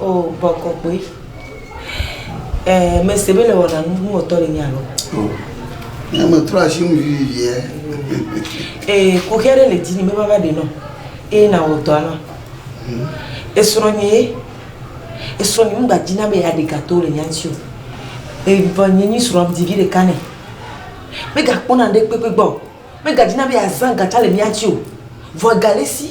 O bɔkɔkpoe. E mese be le wɔna nu nu wɔtɔ le nya lo. O. Ne me trɔ asi nu vivi ye. E kuxia ɖe le dini me va va de no. E na wo dɔ na. Hmm. E srɔ nye ye. E srɔ nye ngba dina be ya de gato le nya nti o. E va nye nyi srɔ di vi de kane. Me ga kpona de kpekpe gbɔ. Me ga dina be ya zan gacha le nya nti o. Vɔ galesi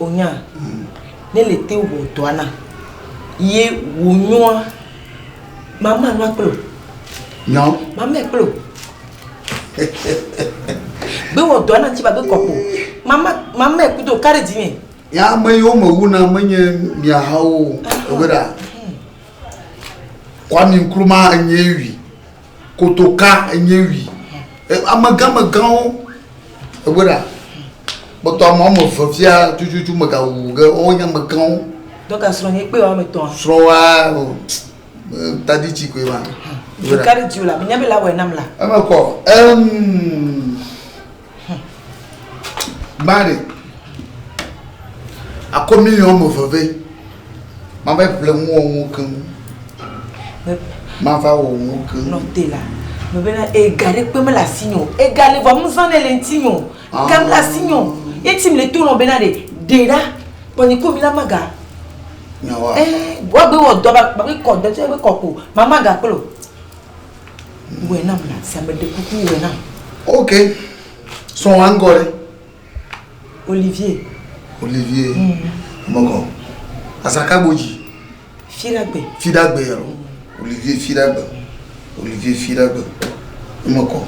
Onya, ne le te wɔ dɔa na, ye wò nyɔa, mama nua kplo. Nyɔ? Mama kplo. Be wɔ dɔa na ti ba be kɔkpo. Mama, mama kudo kare di ne. Ya me yo me wu na me nye mia hawo. Ewera. Kwami Nkrumah nye wi. kotoka enye wi amegãmegãwo egbɔ ɖa kpɔtɔ ame wɔme eve fia tututu megawu ge wo nye amegãwo. dɔka srɔ̃ nye kpe wɔme etɔ̃. srɔ̃ wa o tadi tsi koe ma. ɖeka ɖe di o la nya be la wɔe nam la. eme kɔ ɛm. Mari, akɔ miliɔn ame eve vɛ. Mava ƒle ŋu wɔ ŋu keŋ. Mava wɔ ŋu keŋ. Nɔ te la. Me bena ega ɖe kpe mele asi nyo. Ega le vɔ nu zã ne le ŋuti nyo. Ega mele asi nyo. Ye ti me le to nɔ bena ɖe ɖe ɖa. Kpɔ nye ko mi la maga. Nyawa. Eh, wa gbe wɔ dɔ ba gbe kɔ dɔ tse gbe kɔ ko. Mama ga kplo. Wɔe nam na sia me ɖe kuku wɔe nam. Ok. Sɔ wa ŋgɔ ɖe. Olivier. Olivier. Mm. Mɔgɔ. Asaka gbodzi. Fidagbe. Fidagbe yɛrɛ. Mm. Olivier Fidagbe. Olivier Fidagbe. Mɔgɔ.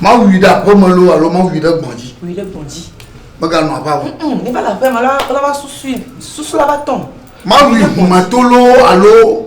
Ma wui ɖe aƒe me lo alo ma wui ɖe gbɔdzi. Wui ɖe gbɔdzi. Meganɔ aƒe alo. Ne va le aƒe me la va susu susu la va tɔm. Ma wui ʋumetolo alo.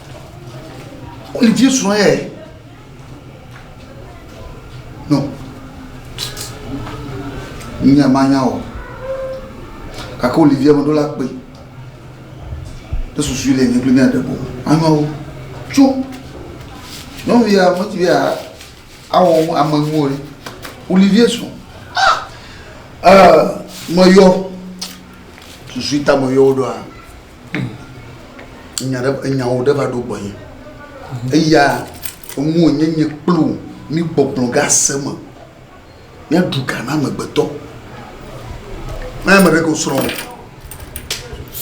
Olivier srɔ̃ yɛ. No. Nya manya o. Gake Olivier meɖo la kpe. Ɖe susu le nye kple mía ɖebo. Anyawo. Tso. Nyɔnuvia meti be awɔ ame ŋuwo ɖe. Olivier srɔ̃. Ah! Euh, meyɔ. Susu ta meyɔ wo ɖoa. nya ɖe enyawo ɖe va ɖo gbɔnye eya ŋu wònye nye kple wò mígbɔgblɔ ge ase me míaɖu ga na amegbetɔ na ame ɖe ko srɔ̃ wò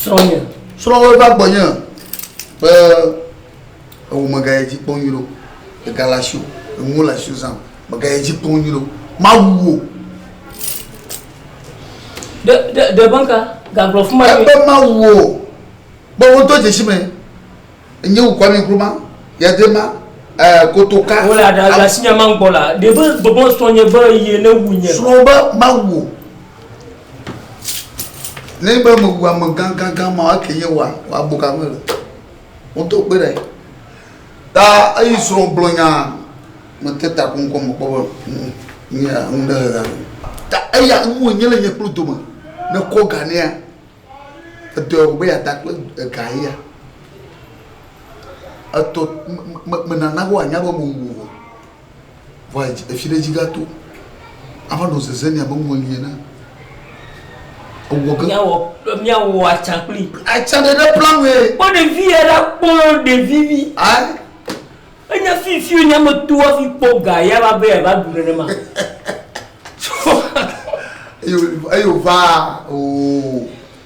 srɔ̃nye srɔ̃wò va gbɔnye be ewò megaya dzi kpɔ nyuie ɖo egale asi o enuwo le asi o zã megaya dzi kpɔ nyuie ɖo mawu wò Ebe Mawu o, be wodo dzesi me nye wu Kwame Nkrumah, Yadze ma, ɛɛ Kotoka. Wole asinya ma gbɔ la, ɖe be gbɔgbɔ srɔ̃ nye be ye ne wu nye. Srɔ̃ be Mawu o. Ne be me wu ame gã gã gã ma, eke nye wa wa bo ka me le. Wodo kpe ɖe. Ta eyi srɔ̃ gblɔ nya mete ta ko ŋkɔ mekpɔ be ŋu nye ŋu ɖe he gã. Ta eya ŋu nye le nye kplu dome ne kɔ ga nea edɔe wɔ be ya da kple ega ya. Etɔ me me me nana wo anya be mo wo. Vɔa efi ɖe dzi gato. Ava nɔ zeze nɛ abe ŋu eli ene. Ewɔ ge. Míawɔ míawɔ atsa kpli. Atsa ɖe ɖe plan wee. Kpɔ ɖevi ya la kpɔ ɖevi vi. Ayi. Enya fi fi o nya me to afi kpɔ ga ya va be ya va du nenema. Eyo eyo va ooo.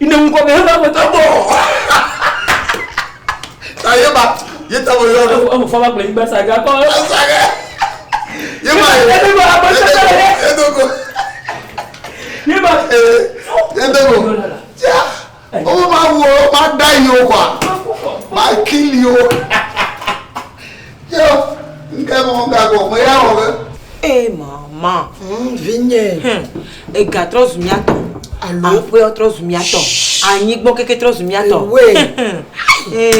Ine ŋu kɔbe hebe aƒetɔ gbɔ. Ta ye ba ye ta wo yɔ. Ewu ewu fama kple nyigba saga kɔ. Saga. Ye ba ye. Edo go aƒetɔ ta ye. Edo go. Ye ba. Edo go. Tia. Owó máa wọ máa dá yìí o wa. Máa kí yìí o. Yo, ŋke mɔ ŋgagɔ me ya wɔ be. Ee mama. Hm vinye. Hm ega trɔ zu mia tɔ. Alo. Aƒea trɔ zu mia tɔ. Anyi gbɔ keke trɔ zu mia tɔ. Ewe.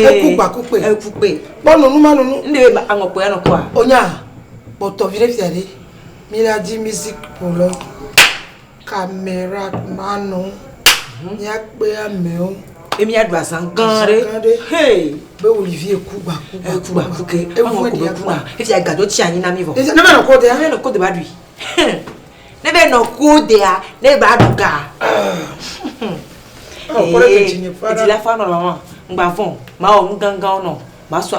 Eku gba ku kpe. Eku kpe. Kpɔ nunu ma nunu. N de be aŋɔ kpe anɔ kɔa. Onya. Kpɔtɔ vi ɖe fia ɖe. Mi la di music polo. Camarade Manu, míakpe amewo. Ye míaɖu azã gã ɖe. Azã gã ɖe. Hey! Be Olivier ku gba ku gba ku gba ku ke. Eŋu eko be kuna. Efi ya gadɔ tsi anyi na mí vɔ. Ne be nɔ ko dea. Ne be nɔ ko de ba ɖui. Ne be nɔ ko dea ne ba ɖu ga. Ee. Edzi la fɔ anɔ lɔlɔ. Ŋgba vɔn. Mawɔ nu gãgãwo nɔ. Masɔ.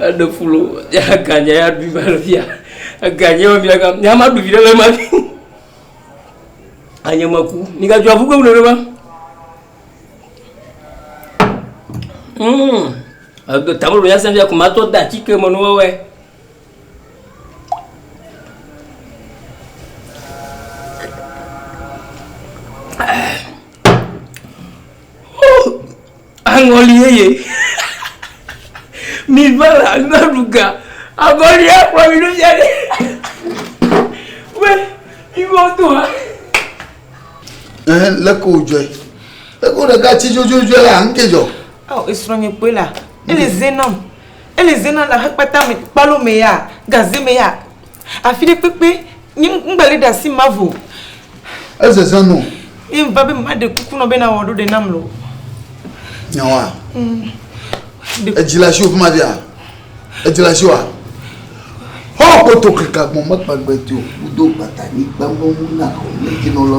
Eɖe fulo ya ganya ya ɖu va le fia. Eganya ya fia ga ya ma ɖu vi ɖe ma. Anye ma ku. Ni ga jua fugo ɖe ma. Mm. Edo tamro ya sem ya kuma to da chike mo no we. Ah. Aŋɔli yeye. Mi va la ŋgɔ ɖu ga. Aŋɔli ya kplɔ mi ɖo fia ɖe. Wɛ, mi va do ha. Ɛn lé ko jɔɛ. Lé ko ɖeka tsi dzodzodzoe la ŋu ke jɔ. Ɔ esrɔ̃ nye kpoe la. Ele zenɔm. Ele zenɔm la hekpata me kpalo me ya. Gaze me ya. Afi ɖe kpekpe nye ŋgbali ɖe asi ma vo. Ezeze nɔ. Ye ŋva be maɖe kuku nɔ be nawɔ ɖo ɖe nam lɔ. Nyawa. Mm. Edzi le asiwò fi ma via? Edzi le asiwòa? Hɔ kpoto keka gbɔn mekpa gbe ti o. Wodo gbata ni gbam be ŋu na o ne dzi nɔ lɔ.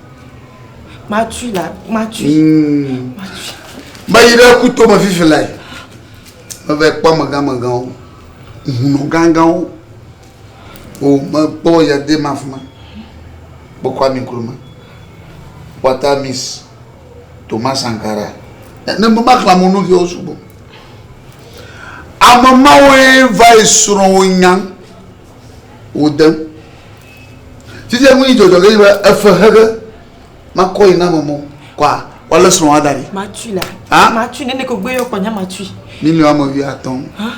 Matsu la, matsu. Hmm. Meyi ɖe kuto me fifi lae. Meve kpɔ megamegãwo, hunɔ gãgãwo. O mekpɔ yade ma fi ma. Kpɔkɔ ami kuruma. Kpɔta mis Thomas Sankara. Ne mema xla mo nu ke o sugbɔ. Ame mawoe va yi srɔ̃ wo nya wo dem. Sisi ŋunyi dzɔdzɔ ge yiba efe hege makɔ yi na mɔmɔ kwa wale srɔ̃ wa da ɖi. Matui la. Ha? Matui nene ko gbe yɔ kɔ nya matui. Miliɔn ame wi atɔ̃. Ha?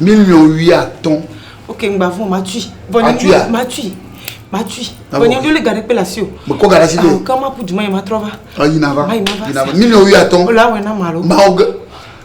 Miliɔn wi atɔ̃. Ok, ngba vɔ matui. Matui ya. Matui. Matui. Vɔ nyɔnjo le gaɖe kpe le asi o. Me kɔ gaɖe asi de. Ke ma pu duma yi ma trɔ va. Ayi na va. Ma yi ma va. Yi na va. Miliɔn wi atɔ̃. Ole awɛ na ma lo. Ma oge.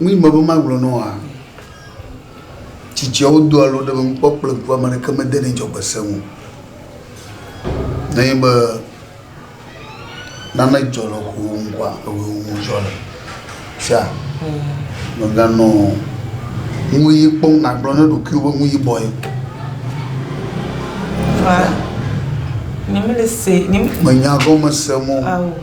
Nu yi me be magblɔ na woa, tsitsiawo do alo ɖe mekpɔ kple ŋku ame aɖeke medenɛ dzɔgbese ŋu o. Nenye be nane dzɔ le ŋkuwò ŋu kɔa, ewɔe wò ŋu dzɔ le. Fia mèganɔ nu ʋi kpɔm nàgblɔ na ɖokuiwò be nu yibɔe. Fia menya gɔmesem o.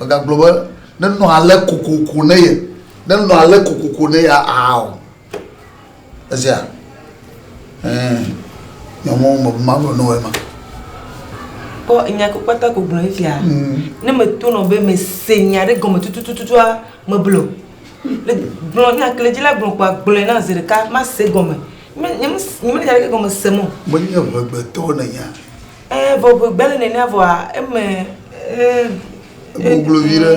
Megagblɔ be, Nenɔ ale kokoko ne ye, nenɔ ale kokoko ne ye aa o. Ezea? Ɛɛ, nyɔmɔ me be magblɔ ne wòe ma. Kpɔ nya ko kpata ko gblɔ fifia. Mm. Ne metonɔ be mese nya ɖe gɔme tutututua, meblɔ. Le gblɔ nya kle dzi la gblɔ kpɔ agblɔe na zi ɖeka mase gɔme. Nye me nye me nya ɖe gɔme se mɔ. Menye ʋegbetɔ ne nya. Ɛɛ vɔ ŋe gbele nenea vɔa eme ee. Goglo vi ɖe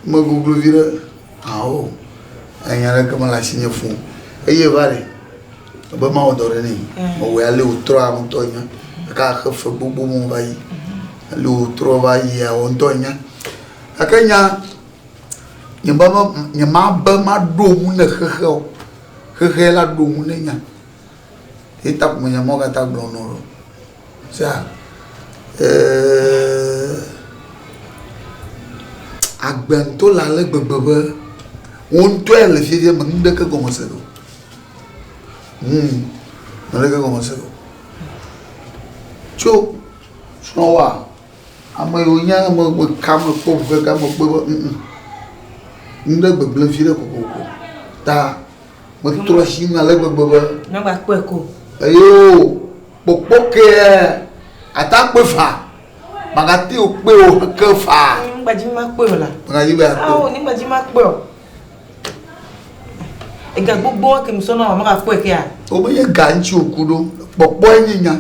me goglo vi ɖe ao enya ɖe kema le asi nye fun eye va li be ma wɔ dɔ ɖe ne me wɔ ale wotrɔ aŋutɔ nya ka xe fe gbogbo mo va yi ale wotrɔ va yi ya wɔ ŋutɔ nya ake nya nye ba ba nye ma be ma ɖo mu ne xexe o xexe la ɖo mu ne nya eta ko me nya mɔ kata gblɔ nɔ. Sea, eeeeee, agbe to le ale gbegbe be, wò ŋutɔe le fiaɖuɖia me, nuɖeke gɔme se ɖo. Hum, nuɖeke gɔme se ɖo. Tso srɔ̃wòa, ame yiwo nye ame yiwo meka me kpɔ ŋu kaka mekpɔe be ŋ ŋ, nuɖe gbegble viɖe kokoko ta metrɔ asi ŋu ale gbegbe be. Magba kpɔe ko o. Eyoo. Kpokpo kea ata kpe fa. Magati o kpe o ke fa. Ni gba dzi ma kpe o la. Magati ba kpe. Awo ni gba dzi ma kpe o. Ega gbogbo ke mi sɔna wa maga kpe kea. O be ye ga ŋtsi o ku ɖo. Kpɔkpɔ enyi nya.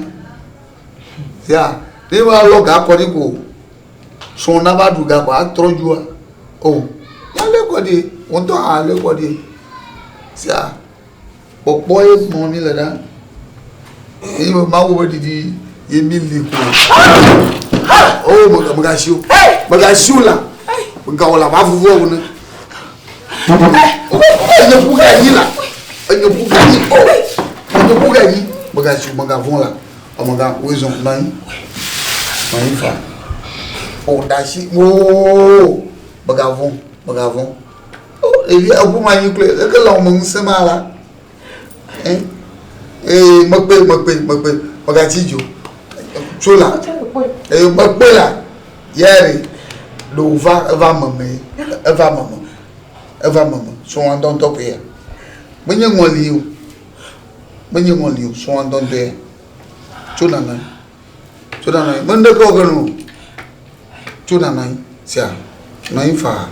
Ya, ne wa lɔ ga kɔ ni ko. Sɔn na ba du ga ko atrɔ jua. O. Ya le kɔ di. Won to ha le kɔ di. Ya. Kpɔkpɔ ye sumɔm míle ɖa. Eye be Mawu be ɖiɖi ye míli ko. O oh, megasi o. Megasi o la. Megawɔ la va vuvu ewone. Enye ƒu ka yi la. Enye ƒu ka yi. Enye ƒu ka yi. Megasi o, megavɔn la. Omega, wo ezɔn na yi. Ma yi fa. O oh, dasi. O oh, megavɔn, megavɔn. Ɖevia ŋu anyi kloe eke le wɔme ŋusẽ ma la ee mekpe mekpe mekpe mekati dzo tso la ee mekpe la yɛri ɖo va eva meme eva meme eva meme so wɔn dɔntɔ koe ya menye ŋɔli o menye ŋɔli o so wɔn dɔntɔ ya tso nana. tso ɖa nɔ anyi mende kɔ ge nu tso ɖa nɔ anyi sia nɔ anyi faa.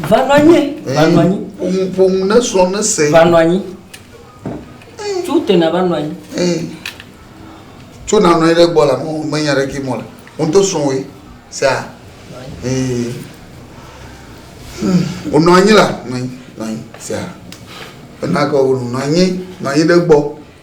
va nɔ anyi va nɔ anyi. ƒomu ƒomu ne srɔ ne se. va nɔ anyi tso te na va nɔ anyi. tso na nɔ anyi ɖe gbɔ la me nya ɖe kí mɔ le wọn to srɔ woe sia ee wonɔ anyi la nɔ anyi nɔ anyi sia ena kɔ wonu nɔ anyi nɔ anyi ɖe gbɔ.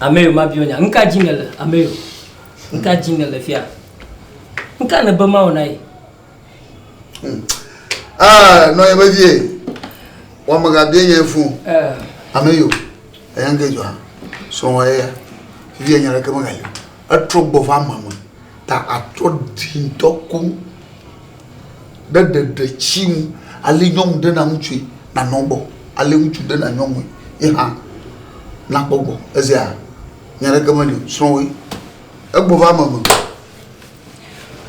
Ameyo mabiɔ nya. Nuka dzi nèle? Ameyo, nuka dzi nèle fia? Nuka nèbe mawɔ na ye? Hmm. Ah, nɔ ye be vie. Wɔmega bie nye fun. Eh. Ameyo, eya nke dzɔa. Sɔwɔ ye ya. Vie nya ɖeke mega yi. Etrɔ gbɔ va ma me. Ta atrɔ ɖi ŋutɔ koŋ. ɖe ɖeɖe tsi ŋu ale nyɔnu ɖe na ŋutsue nanɔ gbɔ ale ŋutsu ɖe na nyɔnue ye hã nakpɔ gbɔ ezea nya ɖeke meli o srɔ̃woe egbɔ va ame me.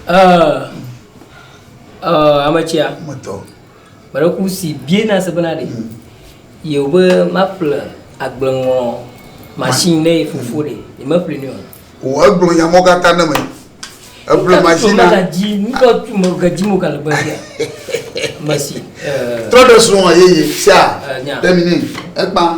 Uh, uh, ametsia. Metɔ. Gbeɖeŋku si bia na se bena ɖe yewo be maƒle agbleŋlɔ machine ne ye fofo ɖe yemeƒli nɛ o. O egblɔ nya mɔ gata ne me. Eƒle machine na. Nuka dzi nuka tu me ga dzi mo ga le gbe sia. Mesi. Trɔ ɖe srɔ̃ ye ye sia. Nya. Ɖe mi ne ekpa.